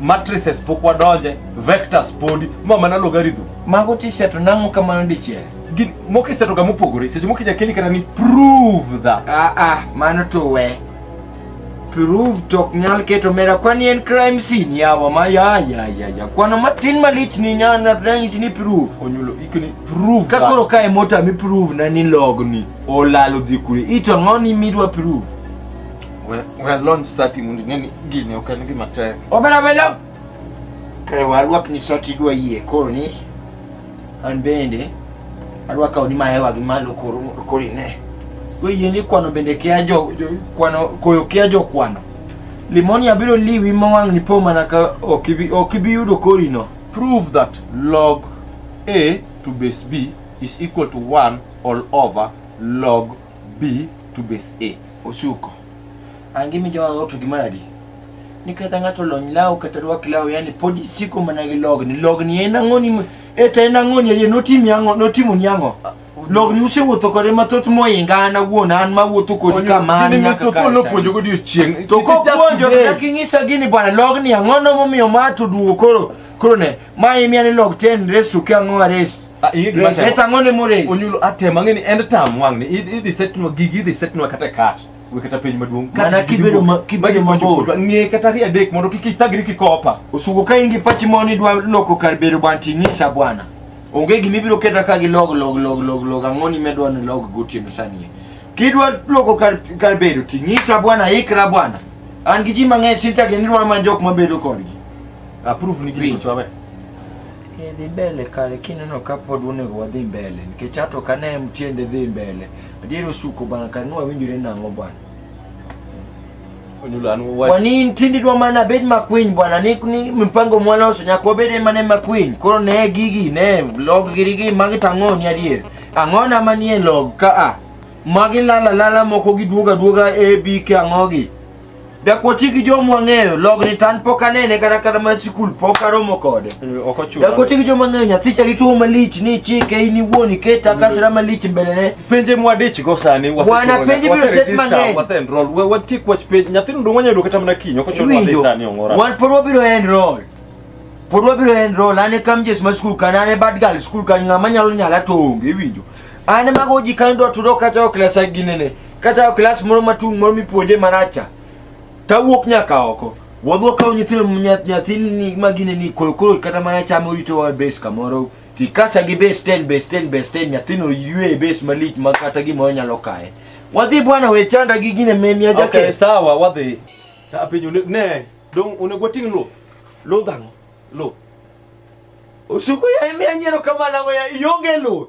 matrices pok wadonje vectors podi ma mana logarithm mago tiseto nang'o kamano dichiel Gin- moko isetoga mopogore seche moko inya keli kata ni prove that ah ah mano to we prove to ok nyal keto mera kwani en crime scene yawa ma ya ya ya ya kwano matin malich ni nyana ranyisi ni prove onyulo ikoni prove ka that. koro ka e mota mi prove na ni logni olalo dhi kure ito ang'o ni midwa prove We we launch sati mundi neni gini ok en gima tek. Obera belo. Kare warwak ni sati dwa yie koro ni an bende adwa kawo ni mahewa gi malo koro koro ine. Oyie ni kwano bende kia jo, jo kwano koyo kia jo kwano. Limoni abiro liwi mawang' ni po mana ka ok ibi ok ibi yudo korino. Prove that log A to base B is equal to 1 all over log B to base A. Osuko. Angi mi jowa ng'ato gi madi. Ni kata ng'ato lony law kata rwak law yani pod isiko mana gi logni. Logni en ang'o ni e to en ang'o ni e notimi ang'o notimo ni ang'o. Logni usewuotho kode mathoth moinga an awuon an mawuotho kodi kamano nyaka kar sani. Puonjo kodi odiochieng'. To kopuonjo kaka inyisa gini bwana logni ang'o no momiyo ma to duogo koro koro ne ma imiya ni log 10 raise to ke ang'o raise Ah, iyi gima Rese sema. tang'o ne mores. Onyulo atema ng'eni end term wang' ni idhi idhi setnwa gigi idhi setnwa kata kat. We kata penj maduong'. Kat Mana gigi kibedo duong'. ma- kibedo Magi mabor. mondo kodwa. Ng'e kata ri adek mondo kik ithagri kikopa. Osugo ka in gi pachi ma ni dwa loko kar bedo bwana ting'isa bwana. Onge gima ibiro ketha ka gi log log log log log ang'o ni medwa ni log gotieno sani. Kidwa loko kar kar bedo ting'isa bwana ikra bwana. An gi ji mang'eny sinta gini dwa manjok mabedo kodgi. Approve ni gini Winjo. sawa. Eh, dhi mbele kare kineno ka pod onego wadhi mbele nikech ato ka ne en tiende dhi mbele adier osuko bana kare ni wawinjore nang'o bwana Onyulo an wach. wani ntindi dwa mana bed makwiny bwana ni, ni mpango mwaloso nyaka wabede mane makwiny koro ne gigi ne log girigi magi to ang'o ni adier ang'ona manie log ka a magi lala lala moko giduoga duoga abk ang'ogi Dakoti gi joma wang'eyo logni tan pok anene kata kata ma sikul pok aromo kode. Ok ochuno. Dakoti gi joma ng'eyo nyathi chali tuo malich ni chike in iwuon iketa kasra malich mbelene. Penje mwadich go sani wase. Wana penje biro set mang'eny. Wase enroll. We wati kwach penje nyathi ndo wanya yudo kata mana kinyo ok ochuno ni sani ongora. Wan pod wabiro enroll. Pod wabiro enroll ane kam jes ma skul kan ane bad girl skul kan ng'ama nyalo nyala to onge iwinjo. Ane mago ji kan do tudo kata ok lesa ginene. Kata klas moro matung' moro mipuonje maracha, tawuok nyaka oko. Wadwa kawo nyithindo nyathini ma gine ni koro koro kata mana chama orito wa base kamoro kikasa gi base 10 base 10 base 10 nyathino ywe e base malich ma kata gimoro nyalo kaye. Wadhi bwana we chanda gi gine memi aja Okay, ke. sawa wadhi. Ta penjo ne- ne, dong onego wating' luth. Lodhango. Luth. Osuko ya emi anyero kama lango ya ionge luth.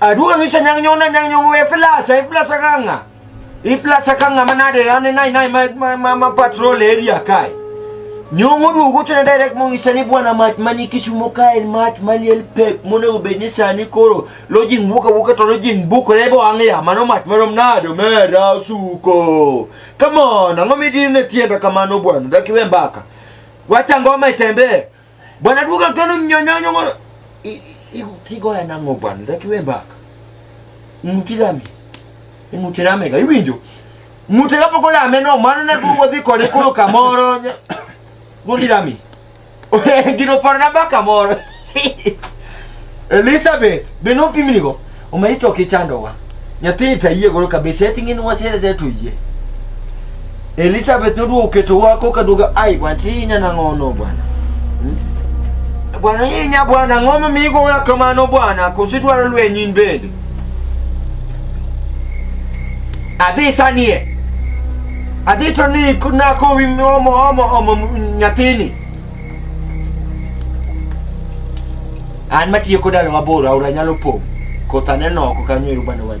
Aduh, bisa nyang nyona nyang nyong we flash, eh, flash kanga. I flash kanga manade, ane nai nai ma ma ma, ma patrol area kai. Nyongo du go tuna direct mo isani bwana mat mani kisumo kai mat mani el pep mo ne ubeni sani koro lojing buka buka to lojing buka lebo angia mano mat mero mnado mera suko. Come on, ang'o midine tienda kamano bwana? Dak iwe mbaka. Wacha ngoma itembee. Bwana duka kano mnyonyonyo ngono. Kigo ya nango bwana, dak iwe mbaka. Mutirami. Mutirami ga iwinjo. Mutirami ko la meno mano na duwo dhi kode koro kamoro. Mudirami. Gino paro na baka moro. Elizabeth, be no pimni go. Umeitwa kichandowa. Nyathini tayie goro kabisa eti ng'in wasere zetu yie. Elizabeth noduogo keto wako kaduogo ai bwana ti nyana ng'ono bwana. Hmm? Bwana hii nya bwana ng'oma migo ya kamano bwana kusidwaro lwenyin bende. Adhi sanie. Adhi to ni na kowi omo omo omo nyathini. An matiyo kod dalo mabor aora nyalo pong'. Koth aneno oko kanyo ero bana wach.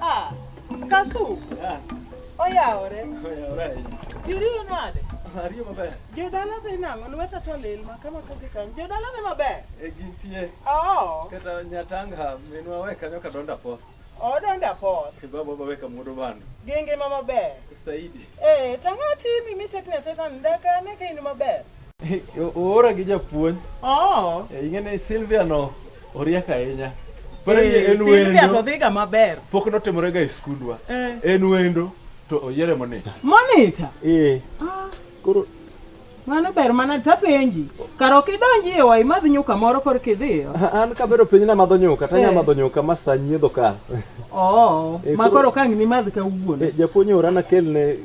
Ah, Kasu. Ah. Oyawore. Oyawore. Tiriyo nade? Ariyo maber. Jodala dhi nang'o? Lweta to lil ma kama kadhi kanyo. Jodala dhi maber? E gintie. Oo. Kata Nyatanga minwa we kanyo kadonda po. Odonda po. Baba baba we kamudo bando. Gi ngima maber. Saidi. Eh, tang'o timi mitekne teta ndaka ne kain maber. Oora gi japuonj. Oh. Eh, ing'e ni Silvia no oriek ahinya. Pero eh, en wendo. Silvia to dhiga maber. Pok notimore ga e skundwa. Eh. En wendo to oyiere monita. Monita? Eh. Ah. Koro mano ber mana tapenji kar ok idonji e wai madh nyuka moro kor kidhiyo an kabero piny na madho nyuka tanya eh. madho nyuka ma sa nyiedho ka oo oh, eh, ma koro kang ni madh ka wuon eh, japuonj orana kelne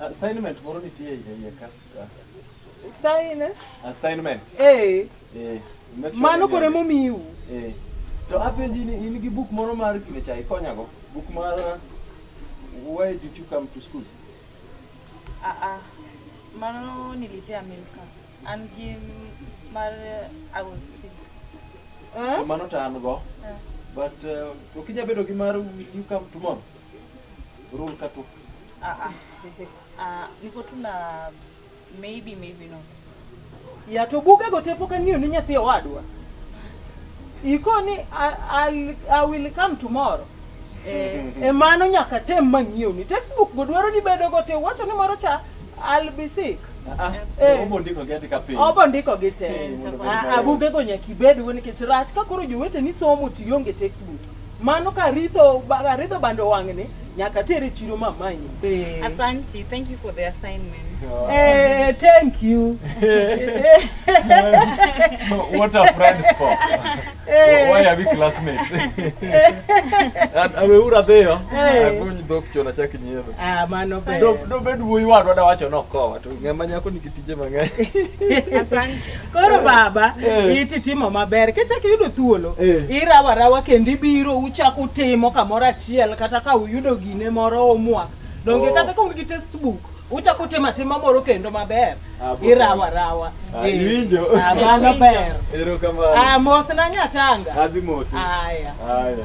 Assignment moro nitie iye ka. Assignment? Assignment. Eh. Eh. Mano kore momiu. Eh. To apenji ni in gi buk moro mar kile chai konyago. Buk mar Why did you come to school? Ah ah. Mano nilipea Milka. And him mar I was sick. Eh? Mano ta an go. Eh. But uh, ukinya bedo gi mar you come tomorrow. Rule ka tu. Ah ah. Ah, niko tu na maybe maybe not. Ya to buga go tepo kan ni nyathi owadwa. Iko ni I, I will come tomorrow. Eh, e mano nyaka tem mang'iew ni textbook go dwaro ni bedo go te wacho ni moro cha I'll be sick. Ah, ah. Eh. Obo ndiko gi ka piny. Obo ndiko gi te. Eh, Abuge go nyaka ibed go nikech rach ka koro jowete ni somo tionge textbook. Mano ka ritho ba- ritho bando wang'ni nyaka tere chiro mamanyi. Eh. Asante, thank you for the assignment. Eh, thank you. What are friends for? Eh. Why are we classmates? Ameura dhiyo. Eh. Akuny dhok chona chak nyiero. Ah, mano ber. Dok dobed wuoyi wadwa da wacho nokowa to ng'ama nyako nigi Tije mang'eny. Asante. Koro baba, Eh. iti timo maber. Kichak iyudo thuolo, Eh. irawa rawa kendo ibiro uchak utimo kamoro achiel kata ka uyudo gine moro homework. Donge Oh. kata ka un gi test book, uchak utimo atima moro kendo maber. Ah, bo- Irawa rawa. Ah, Eh. iwinjo. Ah, mano ber. Erokamano. Ah, mos na nyatanga. Adhi mosi. Aya. Aya.